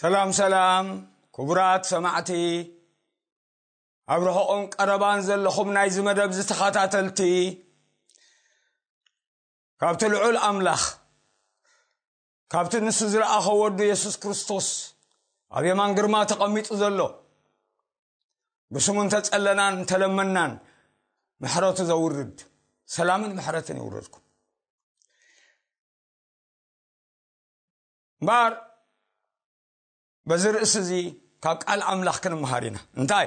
ሰላም ሰላም ክቡራት ሰማዕቲ ኣብ ርሑቕን ቀረባን ዘለኹም ናይዚ መደብ ዝተኸታተልቲ ካብቲ ልዑል ኣምላኽ ካብቲ ንሱ ዝለኣኸ ወዱ የሱስ ክርስቶስ ኣብ የማን ግርማ ተቐሚጡ ዘሎ ብስሙ እንተጸለናን እንተለመናን ምሕረቱ ዘውርድ ሰላምን ምሕረትን ይውረድኩም እምበኣር በዚ ርእሲ እዚ ካብ ቃል ኣምላኽ ክንምሃር ኢና እንታይ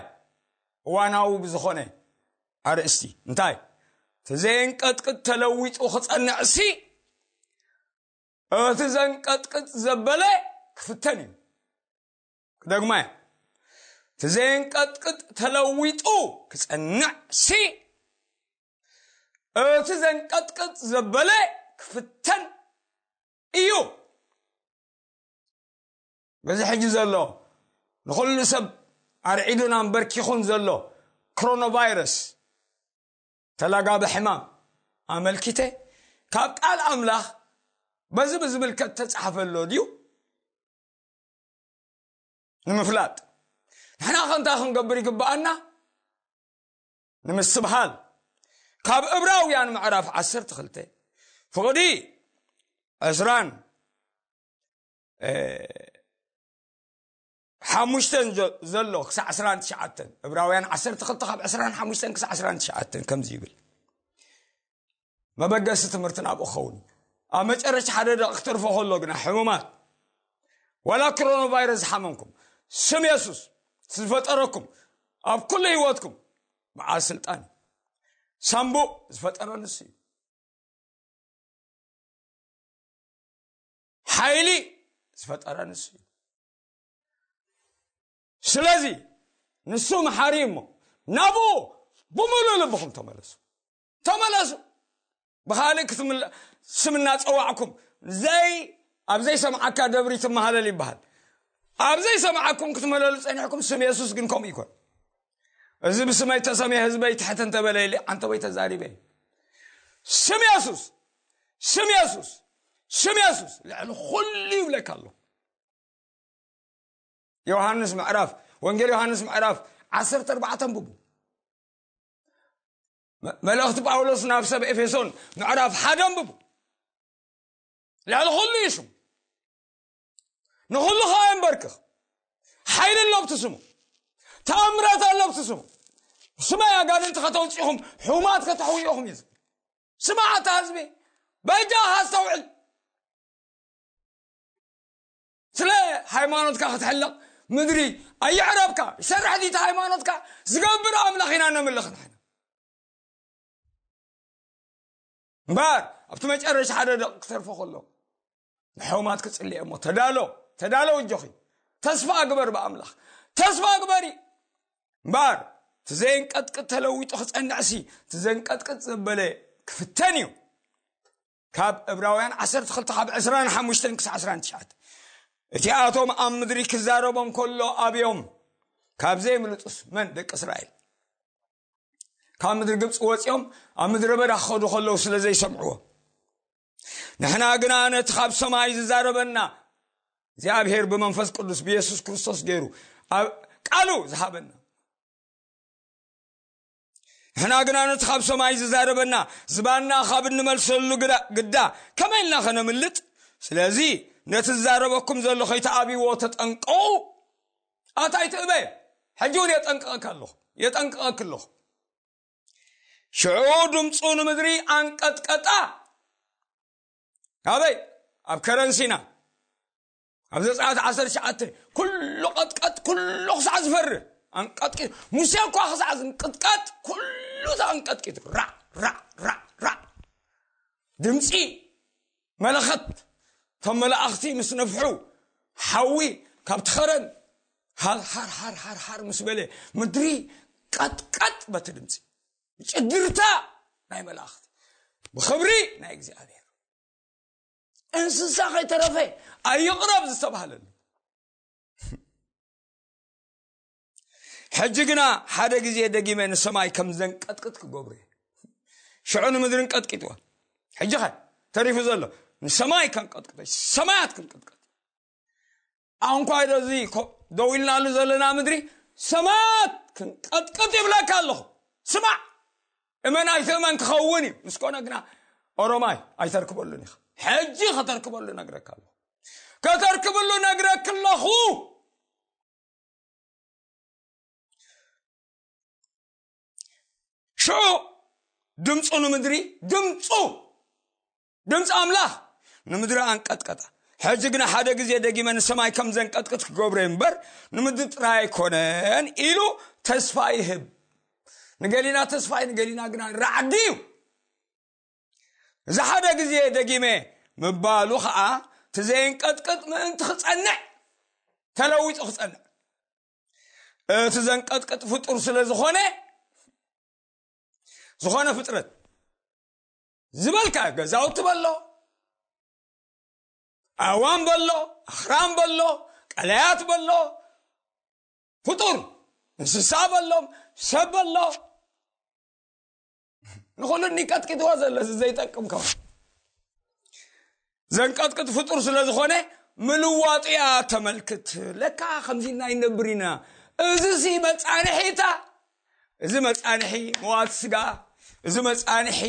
እዋናዊ ብዝኾነ ኣርእስቲ እንታይ እቲ ዘየንቀጥቅጥ ተለዊጡ ክጸንዕ ሲ እቲ ዘንቀጥቅጥ ዘበለ ክፍተን እዩ ክደግማ እየ እቲ ዘየንቀጥቅጥ ተለዊጡ ክጸንዕ ሲ እቲ ዘንቀጥቅጥ ዘበለ ክፍተን እዩ በዚ ሕጂ ዘሎ ንኹሉ ሰብ ኣርዒዱን ኣንበርኪኹን ዘሎ ክሮኖቫይረስ ተላጋቢ ሕማም ኣመልኪተ ካብ ቃል ኣምላኽ በዚ ብዝምልከት ተጻሕፈ ኣሎ ድዩ ንምፍላጥ ንሕና ከንታ ክንገብር ይግብኣና ንምስትብሃል ካብ እብራውያን ምዕራፍ ዓሰርተ ክልተ ፍቕዲ ዕስራን ሓሙሽተ ዘሎ ክሳዕ ዕስራን ትሽዓተን እብራውያን ዓሰርተ ክልተ ካብ ዕስራን ሓሙሽተን ክሳዕ ዕስራን ትሽዓተን ከምዚ ይብል መበገሲ ትምህርቲ ናብኡ ክኸውን እዩ ኣብ መጨረሻ ሓደ ደቂ ክትርፎ ከሎ ግና ሕሙማት ዋላ ክሮኖ ቫይረስ ዝሓመምኩም ስም የሱስ ዝፈጠረኩም ኣብ ኩሉ ህይወትኩም በዓል ስልጣን እዩ ሳምቡእ ዝፈጠረ ንሱ እዩ ሓይሊ ዝፈጠረ ንሱ እዩ ስለዚ ንሱ መሓሪ እሞ ናብኡ ብምሉእ ልብኹም ተመለሱ ተመለሱ ብካልእ ስም እናፀዋዕኩም ዘይ ኣብ ዘይሰምዓካ ደብሪ ትመሃለል ይበሃል ኣብ ዘይሰምዓኩም ክትመለሉ ፀኒሕኩም ስም የሱስ ግን ከምኡ ይኮን እዚ ብስመይ ተሰምየ ህዝበይ ትሕት እንተበለ ኢለ ዓንተበይ ተዛሪበ ስም የሱስ ስም የሱስ ስም የሱስ ልዕሊ ኩሉ ይብለካ ኣሎ ዮሃንስ ምዕራፍ ወንጌል ዮሃንስ ምዕራፍ 14 ኣንብቡ መልእኽቲ ጳውሎስ ናብ ሰብ ኤፌሶን ምዕራፍ ሓደ ኣንብቡ ልዕሊ ኩሉ እዩ ሽሙ ንኹሉ ከዓ የንበርክኽ ሓይሊ ኣለብቲ ስሙ ተኣምራት ኣለብቲ ስሙ ስማይ ኣጋንንቲ ከተውፅኹም ሕማት ከተሕውዮኹም እዩ ስማዕ ኣታ ህዝቢ በጃኻ ኣስተውዕል ስለ ሃይማኖትካ ክትሕለቕ ምድሪ ኣየዕረብካ ይሰርሕ ዲቲ ሃይማኖትካ ዝገብር ኣምላኽ ኢና ነምልኽ ንሕና እምበር ኣብቲ መጨረሻ ሓደ ደቂ ክተርፎ ከሎ ንሕውማት ክፅልየ እሞ ተዳሎ ተዳሎ እጆኺ ተስፋ ግበር ብኣምላኽ ተስፋ ግበሪ እምበር እቲ ዘየንቀጥቅጥ ተለዊጡ ክፀንዕሲ እቲ ዘንቀጥቅጥ ዘበለ ክፍተን እዩ ካብ እብራውያን ዓሰርተ ክልተ ካብ ዕስራን ሓሙሽተን ክሳዕ ዕስራን ትሽዓተ እቲኣቶም ኣብ ምድሪ ክዛረቦም ከሎ ኣብዮም ካብ ዘይምልጡስ መን ደቂ እስራኤል ካብ ምድሪ ግብፂ ወፂኦም ኣብ ምድረ በዳ ክኸዱ ከለዉ ስለ ዘይሰምዕዎ ንሕና ግና ነቲ ካብ ሰማይ ዝዛረበና እግዚኣብሄር ብመንፈስ ቅዱስ ብየሱስ ክርስቶስ ገይሩ ቃሉ ዝሃበና ንሕና ግና ነቲ ካብ ሰማይ ዝዛረበና ዝባንና ካብ እንመልሰሉ ግዳ ከመይ ኢልና ከነምልጥ ስለዚ ነቲ ዝዛረበኩም ዘሎ ከይተኣብይዎ ተጠንቀቑ ኣታ ኣይትእበ ሕጂ እውን የጠንቅቐካ ኣለኹ የጠንቅቐክ ኣለኹ ሽዑ ድምፁ ንምድሪ ኣንቀጥቀጣ ኣበይ ኣብ ከረንሲና ኣብ ዘጸኣት ዓሰርተ ትሽዓተ ኩሉ ቀጥቀጥ ኩሉ ክሳዕ ዝፈርህ ኣንቀጥቂ ሙሴ እኳ ክሳዕ ዝንቅጥቀጥ ኩሉ ተኣንቀጥቂጡ ራዕ ራዕ ራዕ ራዕ ድምፂ መለኸት እቶም መላእኽቲ ምስ ነፍሑ ሓዊ ካብቲ ኸረን ሃርሃር ሃርሃር ሃር ምስ በለ ምድሪ ቀጥቀጥ በቲ ድምፂ ጭግርታ ናይ መላእኽቲ ብኽብሪ ናይ እግዚኣብሔር እንስሳ ከይተረፈ ኣይቕረብ ዝተባሃለሉ ሕጂ ግና ሓደ ግዜ ደጊመ ንሰማይ ከም ዘንቀጥቅጥ ክገብሩ እየ ሽዑ ንምድርን ቀጥቂጥዎ ሕጂ ኸ ተሪፉ ዘሎ ንሰማይ ከንቀጥቅጠ ሰማያት ክንቅጥቀጥ ኣንኳይዶ እዚ ደው ኢልናሉ ዘለና ምድሪ ሰማያት ክንቀጥቅጥ ይብለካ ኣለኹ ስማዕ እመን ኣይትእመን ክኸውን እዩ ምስ ኮነ ግና ኦሮማይ ኣይተርክበሉን ኢኻ ሕጂ ከተርክበሉ ነግረካ ኣለኹ ከተርክብሉ ነግረክ ኣለኹ ሽዑ ድምፁ ንምድሪ ድምፁ ድምፂ ኣምላኽ ንምድሪ ኣንቀጥቀጣ ሕዚ ግና ሓደ ግዜ ደጊመ ንሰማይ ከም ዘንቀጥቅጥ ክገብሮ እምበር ንምድሪ ጥራይ ኣይኮነን ኢሉ ተስፋ ይህብ ንገሊና ተስፋይ ንገሊና ግና ራዕዲ እዩ እዚ ሓደ ግዜ ደጊመ ምባሉ ከዓ ትዘይንቀጥቅጥ ምእንቲ ክፀንዕ ተለዊጡ ክፀንዕ እቲ ዘንቀጥቅጥ ፍጡር ስለ ዝኾነ ዝኾነ ፍጥረት ዝበልካ ገዛውቲ በሎ ኣእዋም በሎ ኣኽራም በሎ ቀላያት በሎ ፍጡር እንስሳ በሎም ሰብ በሎ ንኹሉ እኒ ቀጥቂጥዎ ዘሎ እዚ ዘይጠቅም ከው ዘንቀጥቅጥ ፍጡር ስለ ዝኾነ ምልዋጡ እያ ተመልክት ለካ ከምዚ እና ይነብር ኢና እዚ ሲ መጻንሒታ እዚ መጻንሒ መዋት ስጋ እዚ መጻንሒ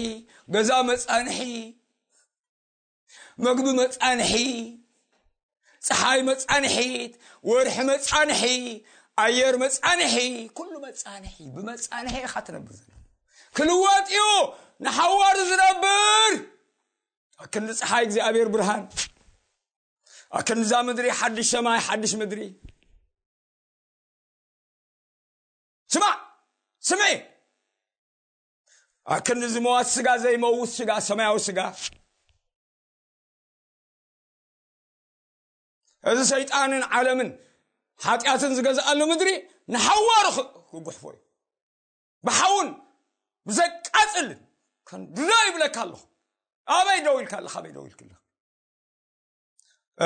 ገዛ መጻንሒ መግቢ መጻንሒ ፀሓይ መጻንሒት ወርሒ መጻንሒ ኣየር መጻንሒ ኩሉ መጻንሒ ብመጻንሒ ኢኻ ትነብር ዘሎ ክልወጥ እዩ ንሓዋሩ ዝነብር ኣክንዲ ፀሓይ እግዚኣብሔር ብርሃን ኣክንዛ ምድሪ ሓድሽ ሰማይ ሓድሽ ምድሪ ስማዕ ስምዒ ኣክንዲ ዝመዋት ስጋ ዘይመውት ስጋ ሰማያዊ ስጋ እዚ ሰይጣንን ዓለምን ሓጢኣትን ዝገዝኣሉ ምድሪ ንሓዋሩ ክጉሕፎ እዩ ብሓውን ብዘቃፅልን ክንድዶ ይብለካ ኣለኹ ኣበይ ደው ኢልካ ኣለካ ኣበይ ደው ኢልክ ኣለካ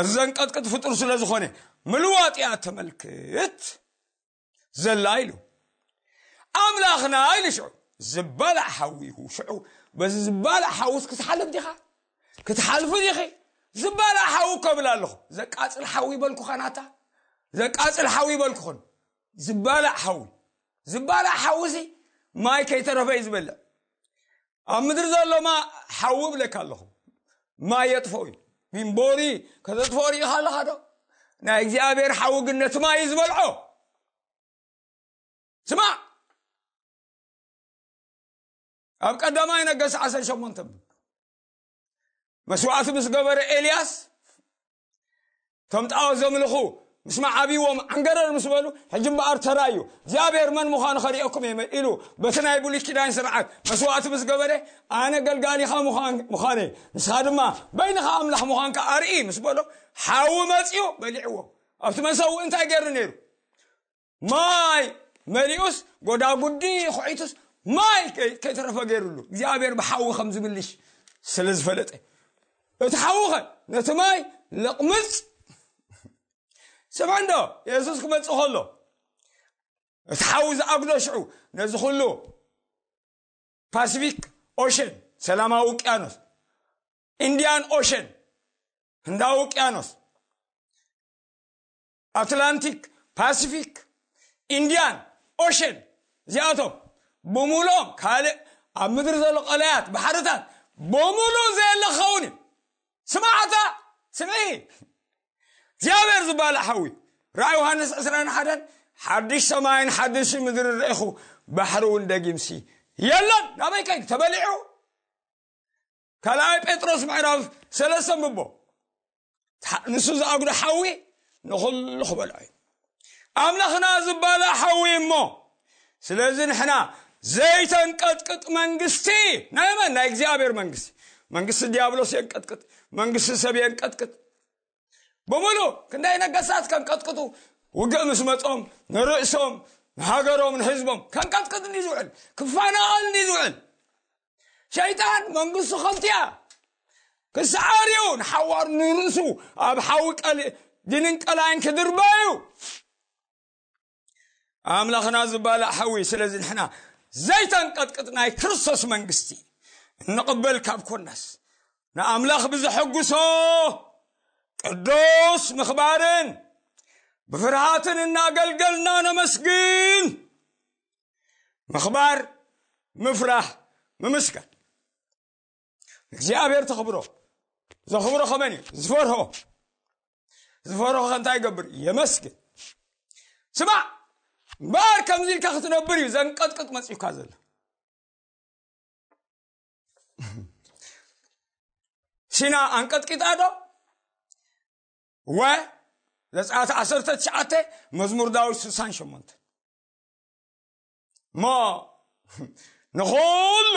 እዚ ዘንቀጥቅጥ ፍጡር ስለ ዝኾነ ምልዋጥ እያ ተመልክት ዘላ ኢሉ ኣምላኽና ኢሉ ሽዑ ዝበላዕ ሓዊ ኢኹ ሽዑ በዚ ዝበላዕ ሓውስ ክትሓልፍ ዲኻ ክትሓልፉ ዲኺ ዝበላዕ ሓዊ ከብል ኣለኹ ዘቃፅል ሓዊ በልኩኻ ናታ ዘቃፅል ሓዊ በልኩኽን ዝባላዕ ሓዊ ዝባላዕ ሓዊ ሲ ማይ ከይተረፈ እዩ ዝበልዕ ኣብ ምድሪ ዘሎማ ሓዊ ብለካ ኣለኹ ማይ የጥፈኡ እዩ ሚንቦሪ ከተጥፈኦ ርኢኻ ኣለኻ ዶ ናይ እግዚኣብሔር ሓዊ ግን ነቲ ማይ እዩ ዝበልዖ ስማዕ ኣብ ቀዳማይ ነገስ ዓሰርተ ሸሞንተ መስዋዕቲ ምስ ገበረ ኤልያስ እቶም ጣዖት ዘምልኹ ምስ መዓብዎም ዓንገረር ምስ በሉ ሕጂ እምበኣር ተራዩ እግዚኣብሔር መን ምዃኑ ከርእየኩም እየ ኢሉ በቲ ናይ ብሉይ ኪዳን ስርዓት መስዋእቲ ምስ ገበረ ኣነ ገልጋሊኻ ምዃነ ንስኻ ድማ በይንኻ ኣምላኽ ምዃንካ ኣርኢ ምስ በሎ ሓዊ መፅኡ በሊዕዎ ኣብቲ መሰውእ እንታይ ገይሩ ነይሩ ማይ መሊኡስ ጎዳጉዲ ኩዒቱስ ማይ ከይተረፈ ገይሩሉ እግዚኣብሔር ብሓዊ ከም ዝብልሽ ስለ ዝፈለጠ እቲ ሓዊ ኸ ነቲ ማይ ለቕምፅ ስምዕ እንዶ የሱስ ክመፅእ ከሎ እቲ ሓዊ ዝኣግዶ ሽዑ ነዚ ኩሉ ፓሲፊክ ኦሽን ሰላማዊ ውቅያኖስ ኢንዲያን ኦሽን ህንዳዊ ውቅያኖስ ኣትላንቲክ፣ ፓሲፊክ፣ ኢንድያን ኦሸን እዚኣቶም ብምሉኦም ካልእ ኣብ ምድሪ ዘሎ ቀላያት ባሕርታት ብምሉእ ዘየለ ክኸውን እዩ ስማዕታ ስምዒ እግዚኣብሔር ዝበሃል ሓዊ ራእይ ዮሃንስ 21 ሓድሽ ሰማይን ሓድሽ ምድሪ ርኢኹ ባሕሪ እውን ደጊምሲ የለን ናበይ ከይዱ ተበሊዑ ካልኣይ ጴጥሮስ ምዕራፍ ሰለስተ ምቦ ንሱ ዝኣጉዶ ሓዊ ንኹሉ ክበልዖ እዩ ኣምላኽና ዝባለ ሓዊ እሞ ስለዚ ንሕና ዘይተንቀጥቅጥ መንግስቲ ናይ መን ናይ እግዚኣብሔር መንግስቲ መንግስቲ ዲያብሎስ የንቀጥቅጥ መንግስቲ ሰብ የንቀጥቅጥ ብምሉ ክንደይ ነገሳት ከንቀጥቅጡ ውግእ ምስ መፆም ንርእሶም ንሃገሮም ንህዝቦም ከንቀጥቅጥ እንዲ ዝውዕል ክፈናቐል እንዲ ዝውዕል ሸይጣን መንግስቱ ከብትያ ክስዓር እዩ ንሓዋሩ ንርእሱ ኣብ ሓዊ ድንን ቀላይን ክድርበ እዩ ኣምላኽና ዝባላዕ ሓዊ ስለዚ ንሕና ዘይተንቀጥቅጥ ናይ ክርስቶስ መንግስቲ እንቕበል ካብ ኮናስ ንኣምላኽ ብዘሐጉሶ ቅዱስ ምኽባርን ብፍርሃትን እናገልገልና ነመስግን ምኽባር ምፍራህ ምምስጋን እግዚኣብሔር ተኽብሮ ዘኽብሮ ከመን እዩ ዝፈርሆ ዝፈርሆ ከእንታይ ይገብር የመስግን ስማዕ እምበኣር ከምዚ ኢልካ ክትነብር እዩ ዘንቀጥቅጥ መፅዩካ ዘሎ ሲና ኣንቀጥቂጣ ዶ ወ ዘፀኣት ዓሰርተ ትሽዓተ መዝሙር ዳዊት ስሳን ሸሞንተ እሞ ንኹሉ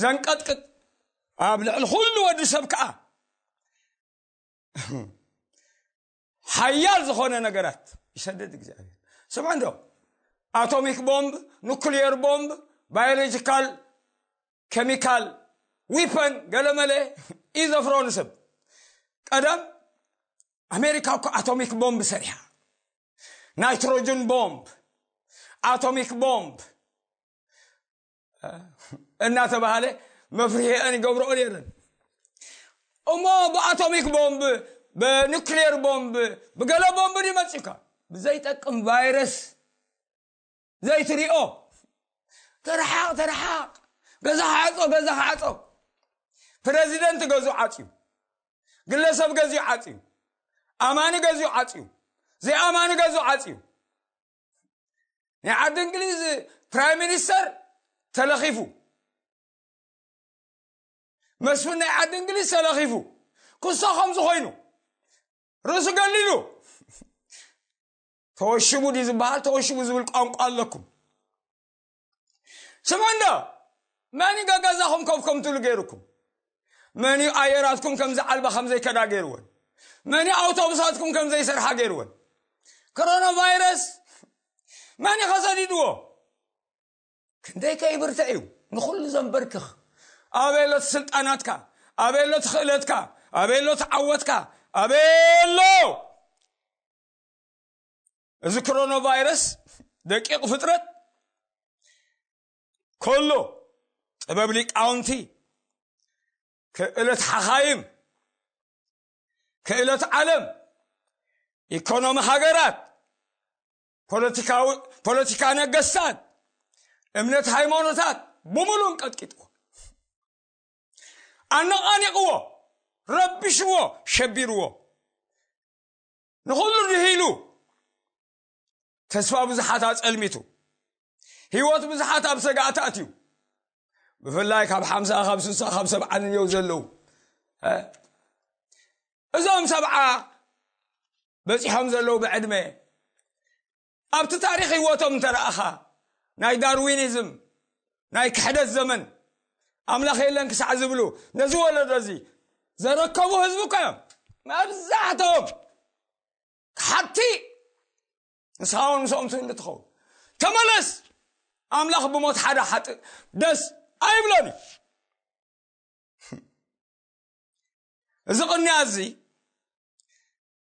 ዘንቀጥቅጥ ኣብ ልዕሊ ኩሉ ወዲ ሰብ ከዓ ሓያል ዝኾነ ነገራት ይሰደድ እግዚኣብሔር ስምዐ እንዶ ኣቶሚክ ቦምብ ኑክልየር ቦምብ ባዮሎጂካል ኬሚካል ዊፐን ገለመለ እዩ ዘፍሮ ንሰብ ቀደም ኣሜሪካ እኮ ኣቶሚክ ቦምብ ሰሪሓ ናይትሮጅን ቦምብ ኣቶሚክ ቦምብ እናተባሃለ መፍርሒአን ይገብረኦ ነይረን እሞ ብኣቶሚክ ቦምብ ብኑክሌር ቦምብ ብገለ ቦምብ ይመፅካ ብዘይጠቅም ቫይረስ ዘይትሪኦ ተረሓቕ ተረሓቕ ገዛ ዓፆ ገዛ ዓፆ ፕረዚደንት ገዙ ዓፅዩ ግለሰብ ገዚኡ ዓፅዩ ኣማኒ ገዚኡ ዓፅዩ ዘይኣማኒ ገዙ ዓፅዩ ናይ ዓዲ እንግሊዝ ፕራይም ሚኒስተር ተለኺፉ መስፍን ናይ ዓዲ እንግሊዝ ተለኺፉ ክሶ ከም ዝኾይኑ ርእሱ ገሊሉ ተወሽቡ ድዩ ዝበሃል ተወሽቡ ዝብል ቋንቋ ኣለኩም ስምዑ እንዶ መን እዩ ገገዛኹም ከብ ከም ትብሉ ገይሩኩም መን እዩ ኣየራትኩም ከም ዝዓልባ ከም ዘይከዳ ገይርወን መን እዩ ኣውቶቡሳትኩም ከም ዘይሰርሓ ገይርወን ኮሮና ቫይረስ መን እዩ ከሰዲድዎ ክንደይ ከይብርተ እዩ ንኹሉ ዘንበርክኽ ኣበሎ ስልጣናትካ ኣበሎ ትኽእለትካ ኣበሎ ትዓወትካ ኣበሎ እዚ ክሮኖ ቫይረስ ደቂቕ ፍጥረት ከሎ ጥበብ ሊቃውንቲ ክእለት ሓኻይም ክእለት ዓለም ኢኮኖሚ ሃገራት ፖለቲካ ነገስታት እምነት ሃይማኖታት ብምሉ እንቀጥቂጥዎ ኣነቓኒቕዎ ረቢሽዎ ሸቢርዎ ንኹሉ ድሂሉ ተስፋ ብዙሓት ኣጸልሚቱ ህይወት ብዙሓት ኣብ ሰጋእቲ ኣትዩ ብፍላይ ካብ ሓምሳ ካብ ስሳ ካብ ሰብዓ ንየው ዘለዉ እዞም ሰብዓ በፂሖም ዘለዉ ብዕድመ ኣብቲ ታሪኽ ህይወቶም እንተረኣኻ ናይ ዳርዊኒዝም ናይ ክሕደት ዘመን ኣምላኽ የለን ክሳዕ ዝብሉ ነዚ ወለዶ እዚ ዘረከቡ ህዝቢ እኮ እዮም መብዛሕቶም ሓቲ ንስኻ እውን ምስኦም ትብሉ ትኸውን ተመለስ ኣምላኽ ብሞት ሓደ ሓጥእ ደስ ኣይብሎን እዩ እዚ ቅንያ እዚ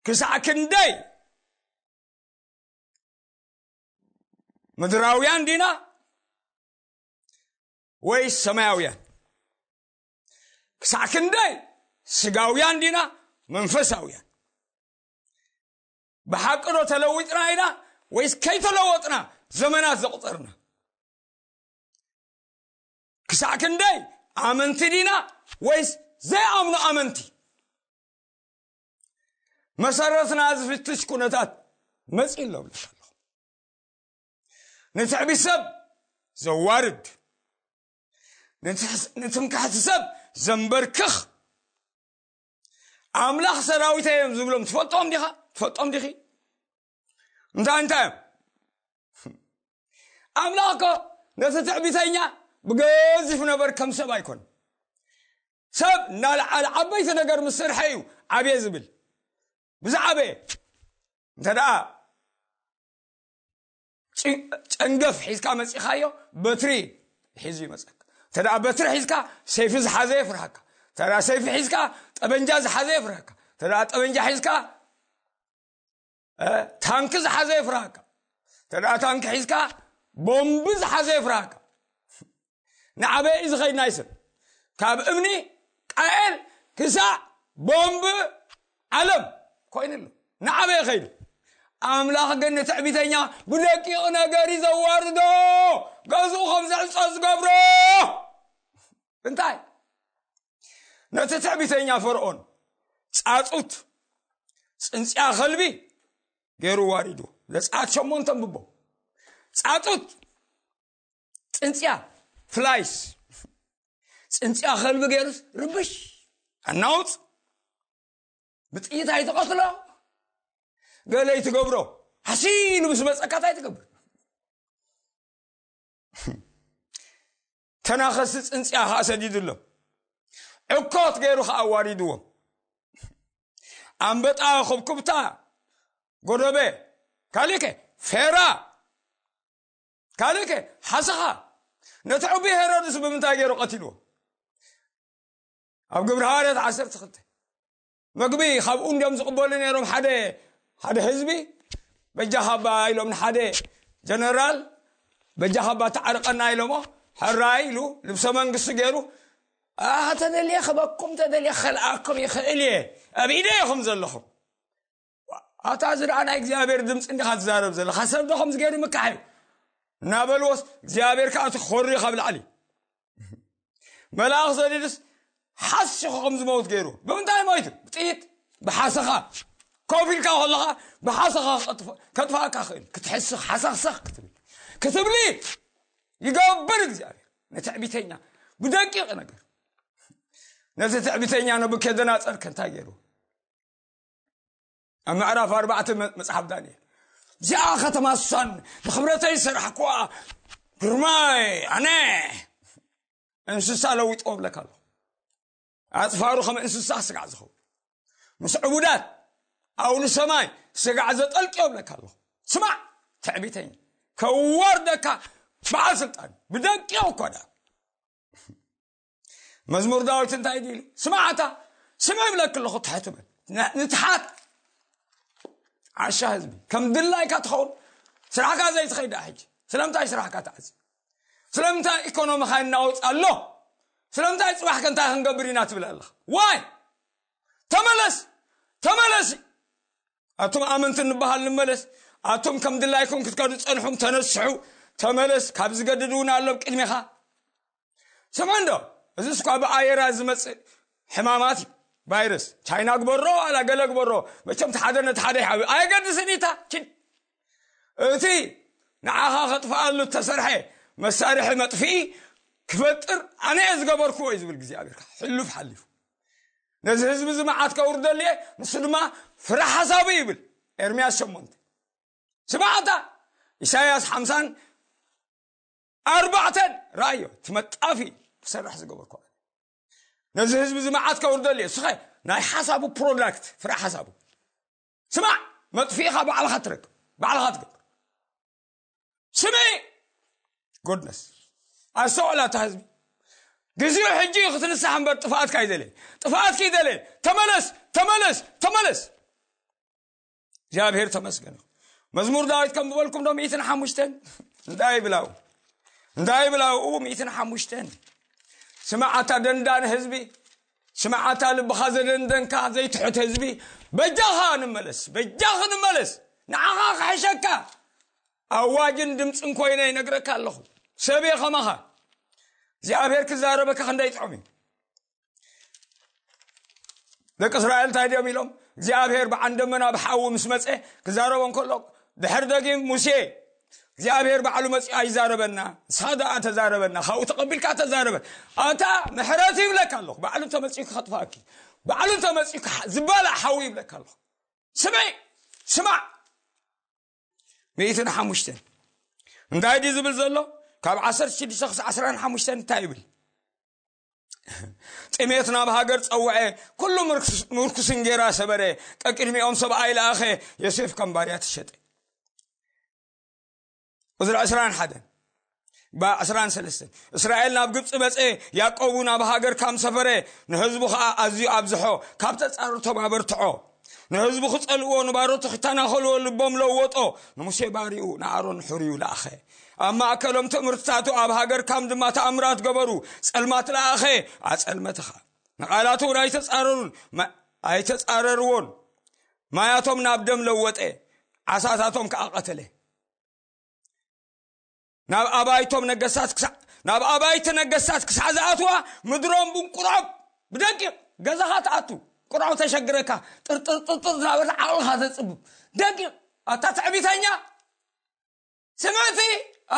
ክሳዕ ክንደይ ምድራውያን ዲና ወይስ ሰማያውያን ክሳዕ ክንደይ ስጋውያን ዲና መንፈሳውያን ብሓቂ ዶ ተለዊጥና ኢና ወይስ ከይተለወጥና ዘመናት ዘቑፀርና ክሳዕ ክንደይ ኣመንቲ ዲና ወይስ ዘይኣምኑ ኣመንቲ መሰረትና ዝፍትሽ ኩነታት መፅእ ኣሎ ብለካ ኣለኹ ንትዕቢ ሰብ ዘዋርድ ንትምካሕቲ ሰብ ዘንበርክኽ ኣምላኽ ሰራዊተ እዮም ዝብሎም ትፈልጦም ዲኻ ትፈልጦም ዲኺ እንታይ እንታይ እዮም ኣምላኽ እኮ ነቲ ትዕቢተኛ ብገዚፍ ነበር ከም ሰብ ኣይኮን ሰብ እናልዓለ ዓበይቲ ነገር ምስ ስርሐ እዩ ዓብየ ዝብል ብዛዕበየ እንተ ደኣ ጨንገፍ ሒዝካ መፂኻዮ በትሪ ሒዙ ይመፀካ እንተ ደኣ በትሪ ሒዝካ ሰይፊ ዝሓዘ የፍርሃካ እንተ ደኣ ሰይፊ ሒዝካ ጠበንጃ ዝሓዘ የፍርሃካ እንተ ደኣ ጠበንጃ ሒዝካ ታንኪ ዝሓዘ የፍርሃካ ተደ ታንኪ ሒዝካ ቦምቢ ዝሓዘ የፍርሃካ ንዓበይ እዩ ዝኸይድ ናይ ሰብ ካብ እምኒ ቃኤል ክሳዕ ቦምቢ ዓለም ኮይኑ ኣሎ ንዓበይ ኸይዱ ኣምላኽ ግን ንትዕቢተኛ ብደቂቕ ነገር እዩ ዘዋርዶ ገዝኡ ከም ዘዕፆ ዝገብሮ እንታይ ነቲ ትዕቢተኛ ፈርኦን ፃፁት ፅንፅያ ከልቢ ገይሩ ዋሪዱ ዘፀኣት ሸሞንተ ብቦ ፃፁት ፅንፅያ ፍላይስ ፅንፅያ ከልቢ ገይሩስ ርብሽ ኣናውፅ ብጥይት ኣይትቐትሎ ገለ ይትገብሮ ሓሲሉ ምስ መፀካት ኣይትገብር ተናኸስቲ ጽንጽያ ኸኣ ሰዲዱሎም ዕኮት ገይሩ ኸኣ ኣዋሪድዎም ኣንበጣ ኹብኩብታ ጎዶበ ካልእከ ፌራ ካልእከ ሓሰኻ ነቲ ዕቢ ሄሮድስ ብምንታይ ገይሩ ቀቲልዎ ኣብ ግብሪ ሃዋርያት ዓሰርተ ክልተ መግቢ ካብኡ እንዲኦም ዝቕበሉ ነይሮም ሓደ ሓደ ህዝቢ በጃኻ ባ ኢሎም ንሓደ ጀነራል በጃኻ ባ ተዓርቀና ኢሎሞ ሕራይ ኢሉ ልብሰ መንግስቲ ገይሩ ተደልየ ክበኩም ተደልየ ክኸልኣኩም ይኽእል እየ ኣብ ኢደ ኢኹም ዘለኹም ኣታ እዚ ደኣ ናይ እግዚኣብሔር ድምፂ እንዲኻ ትዛረብ ዘለኻ ሰብ ዶ ከምዚ ገይሩ ምካሕ እዩ እናበልዎስ እግዚኣብሔር ከዓ እቲ ክኸሩ እዩ ካብ ላዕሊ መልኣኽ ዘሊሉስ ሓሲኹ ከም ዝመውት ገይሩ ብምንታይ ሞይቱ ብጥይት ብሓሰኻ ኮፍ ኢልካ ከለኻ ብሓሰኻ ከጥፋእካ ክእል ክትሕስኽ ሓሰኽሰኽ ክትብል ክትብሊ ይገብር እግዚኣብሔር ንትዕቢተኛ ብደቂቕ ነገር ነዚ ትዕቢተኛ ነብከደናፀር ከንታይ ገይሩ ኣብ ምዕራፍ ኣርባዕተ መጽሓፍ ዳንኤል እዚኣ ከተማ ሳን ንክብረተይ ሰራሕኩዋ ግርማይ ኣነ እንስሳ ለዊጦ እብለካ ኣለኹ ኣፅፋሩ ከም እንስሳ ስጋዕ ዝኸውን ምስ ዕቡዳት ኣውሊ ሰማይ ስጋዕ ዘጠልቅዮ እብለካ ኣለኹ ስማዕ ትዕቢተኝ ከዋርደካ በዓል ስልጣን ብደቂቕ እኳ ዳ መዝሙር ዳዊት እንታይ ድሉ ስማዕታ ስመ ይብለክ ኣለኹ ትሕት በል ንትሓት ዓሻ ህዝቢ ከም ድላይካ ትኸውን ስራሕካ ዘይትኸይዳ ሕጂ ስለምንታይ ስራሕካ ተዓፅ ስለምንታይ ኢኮኖሚካ ይናወፅ ኣሎ ስለምንታይ ፅባሕ ከንታይ ክንገብር ኢና ትብል ኣለኻ ዋይ ተመለስ ተመለስ ኣቱም ኣመንቲ ንበሃል ንመለስ ኣቱም ከም ድላይኩም ክትከዱ ፀንሑም ተነስሑ ተመለስ ካብ ዝገድድ እውን ኣሎ ቅድሚኻ ስምዑ እንዶ እዚ እስኳ ብኣየራ ዝመፅእ ሕማማት እዩ ቫይረስ ቻይና ግበሮ ዋላ ገለ ግበሮ መቸም ሓደ ነቲ ሓደ ይሓብ ኣየገድስን እታ ችን እቲ ንዓኻ ከጥፍኣሉ እተሰርሐ መሳርሒ መጥፍኢ ክፈጥር ኣነ እየ ዝገበርክዎ እዩ ዝብል እግዚኣብሔር ሕሉፍ ሓሊፉ ነዚ ህዝቢ እዚ መዓት ከውርደሉ እየ ንሱ ድማ ፍረ ሓሳቡ ይብል ኤርምያስ ሸሞንተ ስማዕታ ኢሳያስ ሓምሳን ኣርባዕተን ረኣዮ እቲ መጣፊ ክሰርሕ ዝገበርኩ ነዚ ህዝቢ እዚ መዓት ከውርደሉ እየ ስኸ ናይ ሓሳቡ ፕሮዳክት ፍረ ሓሳቡ ስማዕ መጥፊኢኻ ባዕልኻ ትረክብ ባዕልኻ ትገብር ስሚ ጎድነስ ኣስተውዕላ እታ ህዝቢ ግዚኡ ሕጂ እዩ ክትንሳሕ እምበር ጥፍኣትካ ይደለየ ጥፍኣትኪ ይደለየ ተመለስ ተመለስ ተመለስ እግዚኣብሔር ተመስገን መዝሙር ዳዊት ከም ዝበልኩም ዶ ሚእትን ሓሙሽተን እንታይ ይብላው እንታይ ይብላው እው ሚእትን ሓሙሽተን ስምዓታ ደንዳን ህዝቢ ስምዓታ ልብኻ ዘደንደንካ ዘይትሑት ህዝቢ በጃኻ ንመለስ በጃኺ ንመለስ ንዓኻ ክሕሸካ ኣዋጅን ድምፅን ኮይነ ይነግረካ ኣለኹ ሰብየ ከማኻ እግዚኣብሔር ክዛረበካ ክንደይ ጥዑም እዩ ደቂ እስራኤል እንታይ ድዮም ኢሎም እግዚኣብሔር ብዓን ደመና ብሓዊ ምስ መፀ ክዛረቦም ከሎ ድሕር ደጊም ሙሴ እግዚኣብሔር ባዕሉ መፅኡ ኣይዛረበና ንስኻ ደኣ ተዛረበና ካብኡ ተቐቢልካ ተዛረበ ኣታ ምሕረት ይብለካ ኣለኹ ባዕሉ ተመፅኡ ክኸጥፋኪ ባዕሉ ተመፅኡ ዝበላእ ሓዊ ይብለካ ኣለኹ ስምዒ ስማዕ ሚእትን ሓሙሽተን እንታይ ድዩ ዝብል ዘሎ ካብ ዓሰርተ ሽዱሽተ ክሳብ ዓስራን ሓሙሽተን እንታይ ይብል ጥሜት ናብ ሃገር ጸውዐ ኩሉ ምርኩስ እንጌራ ሰበረ ቀቅድሚኦም ሰብኣይ ለኣኸ ዮሴፍ ከም ባርያ ተሸጠ ቁዝሪ ዕስራን ሓደን ብዕስራን ሰለስተን እስራኤል ናብ ግብፂ በፀ ያዕቆብ ናብ ሃገር ካም ሰፈረ ንህዝቡ ከዓ ኣዝዩ ኣብዝሖ ካብ ተፃሩ ተባበርትዖ ንህዝቡ ክጸልዎ ንባሮቱ ክተናኸልዎ ልቦም ለወጦ ንሙሴ ባሪኡ ንኣሮን ሕርዩ ለኣኸ ኣብ ማእከሎም ትምህርትታቱ ኣብ ሃገር ካም ድማ ተኣምራት ገበሩ ጸልማት ለኣኸ ኣጸልመትኻ ንቓላቱ እውን ኣይተጻረሩን ኣይተጻረርዎን ማያቶም ናብ ደም ለወጠ ዓሳታቶም ከዓ ቀተለ ናብ ኣባይቶም ነገስታት ክሳዕ ናብ ኣባይቲ ነገስታት ክሳዕ ዝኣትዋ ምድሮም ብቁርዖብ ብደቂቕ ገዛኻ ትኣቱ ቁርዖብ ተሸግረካ ጥርጥርጥርጥር ዝናበለ ዓቕልኻ ዘፅብብ ደቂቕ ኣታ ትዕቢተኛ ስምዕቲ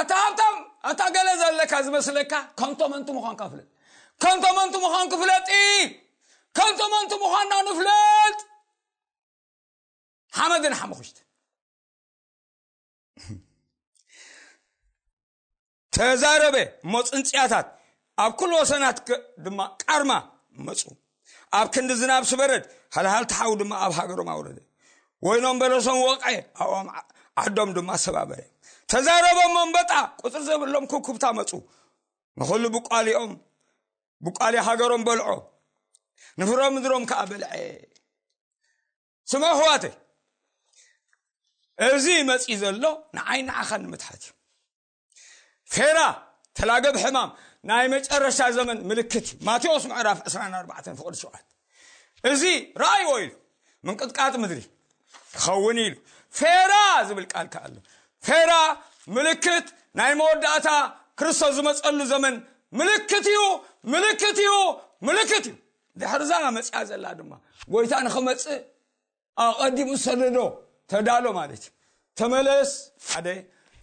ኣታ ሃብታም ኣታ ገለ ዘለካ ዝመስለካ ከንቶ መንቱ ምዃንካ ፍለጥ ከንቶ መንቱ ምዃንኩ ፍለጢ ከንቶ መንቱ ምዃንና ንፍለጥ ሓመድን ሓሙኽሽቲ ተዛረበ እሞ ፅንፅያታት ኣብ ኩሉ ወሰናት ድማ ቃርማ መፁ ኣብ ክንዲ ዝናብ ስበረድ ሃልሃልቲ ሓው ድማ ኣብ ሃገሮም ኣውረደ ወይኖም በለሶም ወቀ ኣብኦም ዓዶም ድማ ሰባበረ ተዛረበ እሞ እምበጣ ቁፅሪ ዘብሎም ኩኩብታ መፁ ንኩሉ ብቋሊኦም ብቋሊ ሃገሮም በልዖ ንፍሮ ምድሮም ከዓ በልዐ ስምዑ ኣሕዋተይ እዚ መፂ ዘሎ ንዓይ ንዓኻ ንምትሓት እዩ ፌራ ተላገብ ሕማም ናይ መጨረሻ ዘመን ምልክት እዩ ማቴዎስ ምዕራፍ 24 ፍቅዲ ሸውዓት እዚ ረኣይዎ ኢሉ ምንቅጥቃጥ ምድሪ ክኸውን ኢሉ ፌራ ዝብል ቃል ከዓ ኣሎ ፌራ ምልክት ናይ መወዳእታ ክርስቶስ ዝመፀሉ ዘመን ምልክት እዩ ምልክት እዩ ምልክት እዩ ድሕርዛ መፅያ ዘላ ድማ ጎይታ ንክመፅእ ኣቐዲሙ ዝሰደዶ ተዳሎ ማለት እዩ ተመለስ ሓደ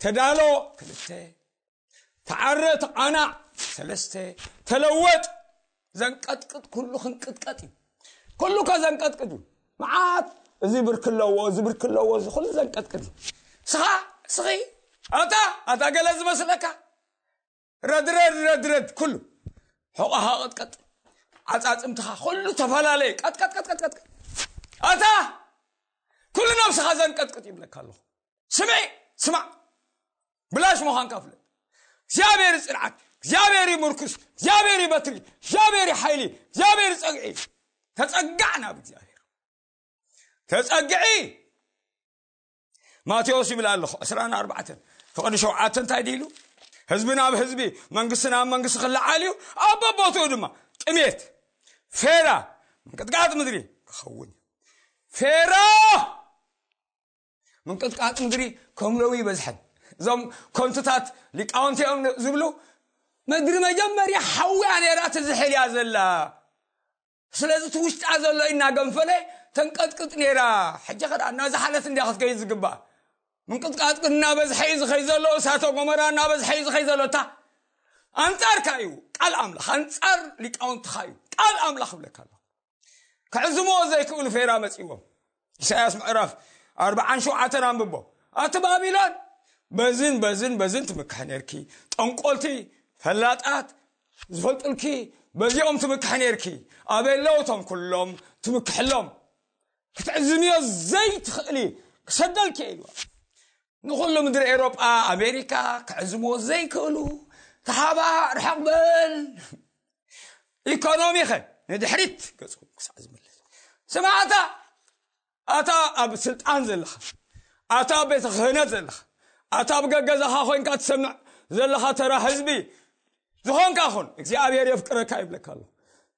ተዳሎ ክልተ ተዓረ ተቓናዕ ሰለስተ ተለወጥ ዘንቀጥቅጥ ኩሉ ክንቅጥቀጥ እዩ ኩሉ ከ ዘንቀጥቅጥ እዩ መዓት እዚ ብርክ ኣለዎ እዚ ብርክ ኣለዎ እዚ ኩሉ ዘንቀጥቅጥ እዩ ስኻ ስኺ ኣታ ኣታ ገለ ዝመስለካ ረድረድ ረድረድ ኩሉ ሕቆኻ ቅጥቀጥ ዓፃፅምትኻ ኩሉ ተፈላለየ ቀጥቀጥቀጥቀጥቀጥ ኣታ ኩሉ ነብስኻ ዘንቀጥቅጥ ይብለካ ኣለኹ ስምዒ ስማዕ ብላሽ ምዃንካ ፍለጥ እግዚኣብሔር ፅንዓት እግዚኣብሔር ምርኩስ እግዚኣብሔር በትሪ እግዚኣብሔር ሓይሊ እግዚኣብሔር ፀግዒ ተፀጋዕ ናብ እግዚኣብሔር ተፀግዒ ማቴዎስ ይብል ኣለኹ ዕስራን ኣርባዕተን ፍቕዲ ሸውዓተ እንታይ ድኢሉ ህዝቢ ናብ ህዝቢ መንግስቲ ናብ መንግስቲ ክለዓል እዩ ኣብ በቦትኡ ድማ ጥሜት ፌራ ምንቅጥቃጥ ምድሪ ክኸውን እዩ ፌራ ምንቅጥቃጥ ምድሪ ከም ለው ይበዝሐን እዞም ኮንትታት ሊቃውንቲ እዮም ዝብሉ ምድሪ መጀመርያ ሓውያ ነራት ዝሕልያ ዘላ ስለዚ እቲ ውሽጣ ዘሎ ኢናገንፈለ ተንቀጥቅጥ ነይራ ሕጂ ከኣ እናዝሓለት እንድያ ክትከይድ ዝግባእ ምንቅጥቃጥ ግን እናበዝሐ እዩ ዝኸይ ዘሎ እሳተ ጎመራ እናበዝሐ እዩ ዝኸይ ዘሎ እታ ኣንጻርካ እዩ ቃል ኣምላኽ ኣንጻር ሊቃውንትኻ እዩ ቃል ኣምላኽ እብለካ ኣለኹ ክዕዝምዎ ዘይክእሉ ፌራ መጺዎም ኢሳያስ ምዕራፍ ኣርብዓን ሸውዓተን ኣንብቦ ኣቲ ባቢሎን በዝን በዝን በዝን ትምክሕ ነርኪ ጠንቆልቲ ፈላጣት ዝፈልጡልኪ በዚኦም ትምክሕ ነርኪ ኣበይ ኣለዉ እቶም ኩሎም ትምክሕሎም ክትዕዝንዮ ዘይትኽእሊ ክሰደልኪ ኢልዋ ንኹሉ ምድሪ ኤሮጳ ኣሜሪካ ክዕዝምዎ ዘይክእሉ ተሓባእ ርሕቕ በል ኢኮኖሚኸ ንድሕሪት ገጹ ክሳዕ ዝምልስ ስማዕታ ኣታ ኣብ ስልጣን ዘለኻ ኣታ ኣብ ቤተ ክህነት ዘለኻ ኣታ ኣብ ገገዛኻ ኮንካ ትሰምዕ ዘለኻ ተራ ህዝቢ ዝኾንካ ኹን እግዚኣብሔር የፍቅረካ ይብለካ ኣሎ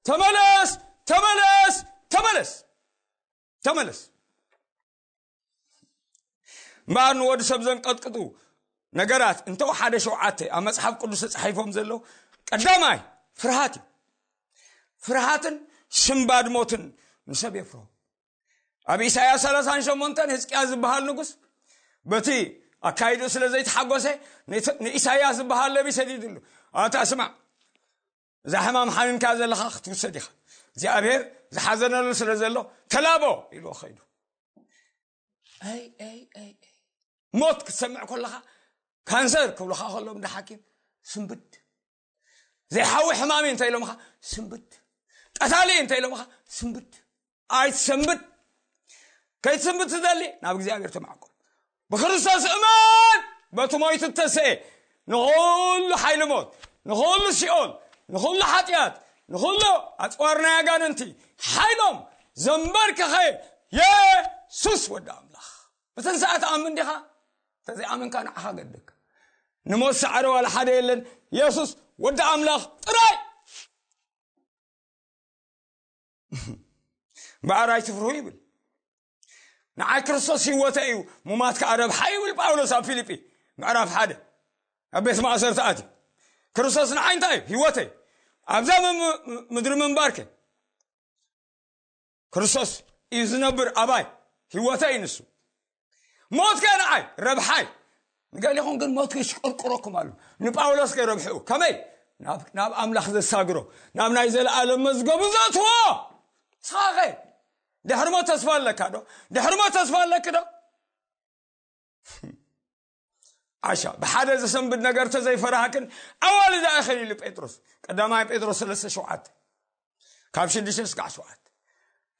ተመለስ ተመለስ ተመለስ ተመለስ እምበኣር ንወዲ ሰብ ዘንቀጥቅጡ ነገራት እንተው ሓደ ሸውዓተ ኣብ መፅሓፍ ቅዱስ ተፃሒፎም ዘለዉ ቀዳማይ ፍርሃት እዩ ፍርሃትን ሽምባድ ሞትን ንሰብ የፍሮ ኣብ ኢሳያስ 38 ህዝቅያ ዝበሃል ንጉስ በቲ ኣካይዱ ስለ ዘይተሓጎሰ ንኢሳያስ ዝበሃል ነቢ ሰዲድሉ ኣታ ስማዕ እዛ ሕማም ሓሚምካ ዘለኻ ክትውሰድ ኢኻ እግዚኣብሄር ዝሓዘነሉ ስለ ዘሎ ተላቦ ኢልዎ ከይዱ ሞት ክትሰምዕ ከለኻ ካንሰር ክብልኻ ከሎ እንዳ ሓኪም ስንብድ ዘይሓዊ ሕማሚ እንተ ኢሎምኻ ስንብድ ቀታሊ እንተ ኢሎምኻ ስንብድ ኣይትሰንብት ከይትስንብት ትደሊ ናብ እግዚኣብሔር ተማዕቆብ ብክርስቶስ እመን በቲ ሞይቱ እተሰኤ ንኹሉ ሓይሊ ሞት ንኹሉ ሲኦል ንኹሉ ሓጢኣት ንኹሉ ኣፅዋር ናይ ኣጋንንቲ ሓይሎም ዘንበርከኸ የሱስ ወዲ ኣምላኽ ብትንሳኣ ትኣምን ዲኻ ተዘይኣመንካ ንዓኻ ገድካ ንሞት ሰዓረ ዋላ ሓደ የለን የሱስ ወዲ ኣምላኽ ጥራይ እምበኣር ኣይትፍርሁ ይብል ንዓይ ክርስቶስ ህይወተ እዩ ሙማት ከዓ ረብሓ ይብል ጳውሎስ ኣብ ፊልጲ ምዕራፍ ሓደ ኣብ ቤት ማእሰርቲ ኣትዩ ክርስቶስ ንዓይ እንታይ እዩ ህይወተይ ኣብዛ ምድሪ ምንባርከ ክርስቶስ እዩ ዝነብር ኣባይ ህይወተይ እዩ ንሱ ሞት ከ ንዓይ ረብሓይ ንገሊኹም ግን ሞት ክሽቅርቅረኩም ኣሉ ንጳውሎስ ከይ ረብሕኡ ከመይ ናብ ኣምላኽ ዘሳግሮ ናብ ናይ ዘለኣለም መዝገቡ ዘትዎ ስኻኸ ድሕሪ ሞት ተስፋ ኣለካ ዶ ድሕሪ ሞት ተስፋ ኣለኪ ዶ ዓሻ ብሓደ ዘሰንብድ ነገር ተዘይፈራህክን ኣዋል እዛ እኸን ኢሉ ጴጥሮስ ቀዳማይ ጴጥሮስ ሰለስተ ሸውዓተ ካብ ሽዱሽተ ስካዕ ሸውዓተ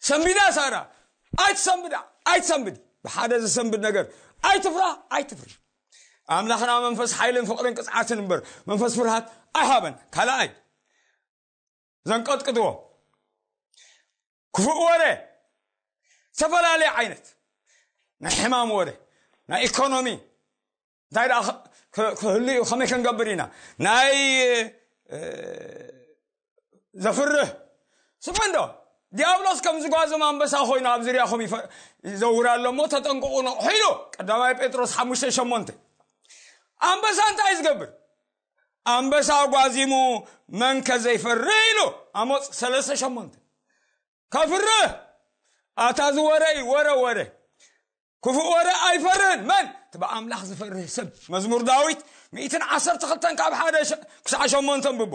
ሰንቢዳ ሳራ ኣይትሰንብዳ ኣይትሰንብድ ብሓደ ዘሰንብድ ነገር ኣይትፍራ ኣይትፍሪ ኣምላኽና መንፈስ ሓይልን ፍቕርን ቅፅዓትን እምበር መንፈስ ፍርሃት ኣይሃበን ካልኣይ ዘንቀጥቅጥዎ ክፉእ ወረ ዝተፈላለየ ዓይነት ናይ ሕማም ወረ ናይ ኢኮኖሚ እንታይ ደኣ ክህሉ እዩ ከመይ ክንገብር ኢና ናይ ዘፍርህ ስምዑ እንዶ ዲያብሎስ ከም ዝጓዞም ኣንበሳ ኮይኑ ኣብ ዝርያኹም ይዘውር ኣሎ እሞ ተጠንቅቑ ነቑሑ ኢሉ ቀዳማይ ጴጥሮስ ሓሙሽተ ሸሞንተ ኣንበሳ እንታይ ዝገብር ኣንበሳ ኣጓዚሙ መንከ ዘይፈርህ ኢሉ ኣሞፅ ሰለስተ ሸሞንተ ከፍርህ ኣታ እዚ ወረ እዩ ወረ ወረ ክፉእ ወረ ኣይፈርህን መን እቲ ብኣምላኽ ዝፈርህ ሰብ መዝሙር ዳዊት ሚእትን ዓሰርተ ክልተን ካብ ሓደ ክሳዕ ሸሞንተ ንብቦ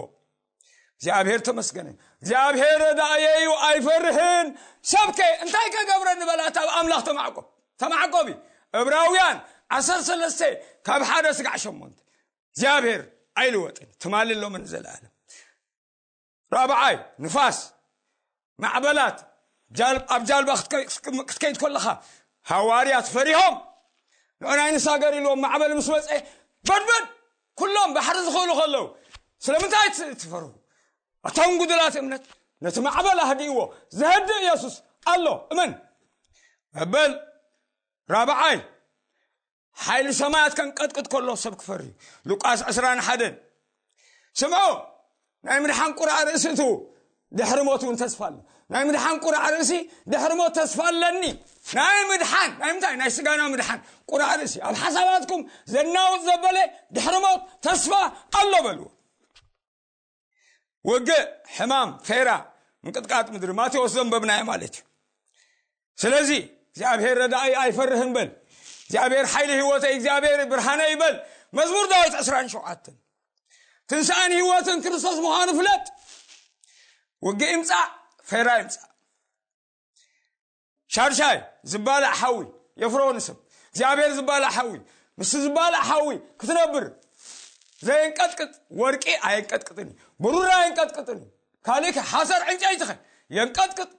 እግዚኣብሔር ተመስገነ እግዚኣብሔር ረዳእየዩ ኣይፈርሕን ሰብከ እንታይ ከገብረ ንበላት ኣብ ኣምላኽ ተማዕቆብ ተማዕቆብ እዩ እብራውያን ዓሰርተ ሰለስተ ካብ ሓደ ስጋዕ ሸሞንተ እግዚኣብሔር ኣይልወጥን ትማሊ ሎምን ዘለኣለም ራብዓይ ንፋስ ማዕበላት ኣብ ጃልባ ክትከይድ ከለኻ ሃዋርያት ፈሪሆም ንዑናይ ንሳገር ኢልዎም ማዕበል ምስ መፀ በድበድ ኩሎም ባሕሪ ዝኽእሉ ከለዉ ስለምንታይ ትፈሩ እቶም ጉድላት እምነት ነቲ ማዕበል ኣህዲእዎ ዘህድእ የሱስ ኣሎ እመን መበል ራብዓይ ሓይሊ ሰማያት ከንቀጥቅጥ ከሎ ሰብ ክፈር እዩ ሉቃስ 2 ሓደን ስምዑ ናይ ምድሓን ቁርዓ ርእሲ እቱ ድሕሪ ሞት እውን ተስፋ ኣሎ ናይ ምድሓን ቁርዓ ርእሲ ድሕሪ ሞት ተስፋ ኣለኒ ናይ ምድሓን ናይ ምንታይ ናይ ስጋና ምድሓን ቁርዓ ርእሲ ኣብ ሓሳባትኩም ዘናውፅ ዘበለ ድሕሪ ሞት ተስፋ ኣሎ በልዎ ውግእ ሕማም ፌራ ምንቅጥቃጥ ምድሪ ማቴዎስ ዘንበብናዮ ማለት እዩ ስለዚ እግዚኣብሔር ረዳእይ ኣይፈርህን በል እግዚኣብሔር ሓይሊ ህይወተይ እግዚኣብሔር ብርሃነ ይበል መዝሙር ዳዊት 27 ትንሣኤን ህይወትን ክርስቶስ ምዃኑ ፍለጥ ውግእ ይምፃእ ፌራ ይምፃእ ሻድሻይ ዝባላዕ ሓዊ የፍሮ ንስም እግዚኣብሔር ዝባላዕ ሓዊ ምስ ዝባላዕ ሓዊ ክትነብር ዘየንቀጥቅጥ ወርቂ ኣየንቀጥቅጥን እዩ ብሩር ኣየንቀጥቅጥን እዩ ካልእ ሓሰር ዕንጨይትኸ የንቀጥቅጥ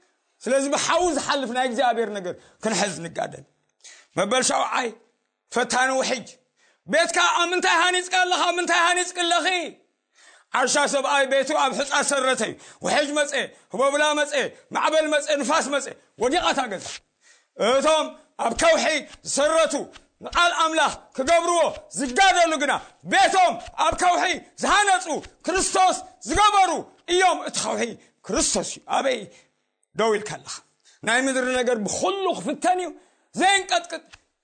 ስለዚ ብሓዊ ዝሓልፍ ናይ እግዚኣብሔር ነገር ክንሕዝ ንጋደል መበል ሻውዓይ ፈታኒ ውሕጅ ቤትካ ኣብ ምንታይ ሃኒጽካ ኣለኻ ምንታይ ሃኒጽኪ ኣለኺ ዓሻ ሰብኣይ ቤቱ ኣብ ሕጻ ሰረተ ውሕጅ መጸ ህቦብላ መጸ ማዕበል መጸ ንፋስ መጸ ወዲቓ እታ ገዛ እቶም ኣብ ከውሒ ዝሰረቱ ንቓል ኣምላኽ ክገብርዎ ዝጋደሉ ግና ቤቶም ኣብ ከውሒ ዝሃነጹ ክርስቶስ ዝገበሩ እዮም እቲ ከውሒ ክርስቶስ እዩ ኣበይ ደው ኢልካ ኣለኻ ናይ ምድሪ ነገር ብኩሉ ክፍተን እዩ ዘየንቀጥቅጥ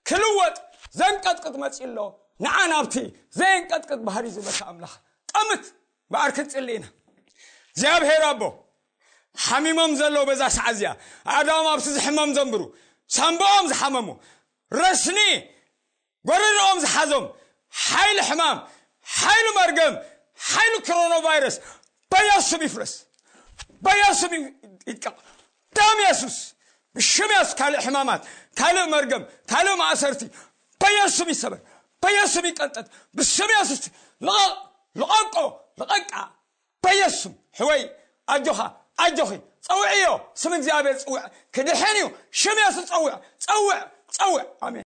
ክልወጥ ዘንቀጥቅጥ መፅኡ ኣሎ ንዓ ናብቲ ዘየንቀጥቅጥ ባህሪ ዝበካ ኣምላኽ ጠምት በኣር ክንፅሊ ኢና እግዚኣብሄር ኣቦ ሓሚሞም ዘለዉ በዛ ሰዓ እዚኣ ኣእዳዎም ኣብቲ ዝሕመም ዘንብሩ ሳምቦኦም ዝሓመሙ ረስኒ ጎረርኦም ዝሓዞም ሓይሊ ሕማም ሓይሉ መርገም ሓይሉ ክሮኖ ቫይረስ በየሱም ይፍረስ በየሱም ይቀቕ ደም የሱስ ብሽም የሱስ ካልእ ሕማማት ካልእ መርገም ካልእ ማእሰርቲ በየሱም ይሰበር በየሱም ይቀንጠጥ ብስም የሱስ ልቐቕ ልቐቆ ልቐቃ በየሱም ሕወይ ኣጆኻ ኣጆኺ ፀውዕዮ ስም እግዚኣብሔር ፅውዕ ክድሕን እዩ ሽም የሱስ ፀውዕ ፀውዕ ፀውዕ ኣሜን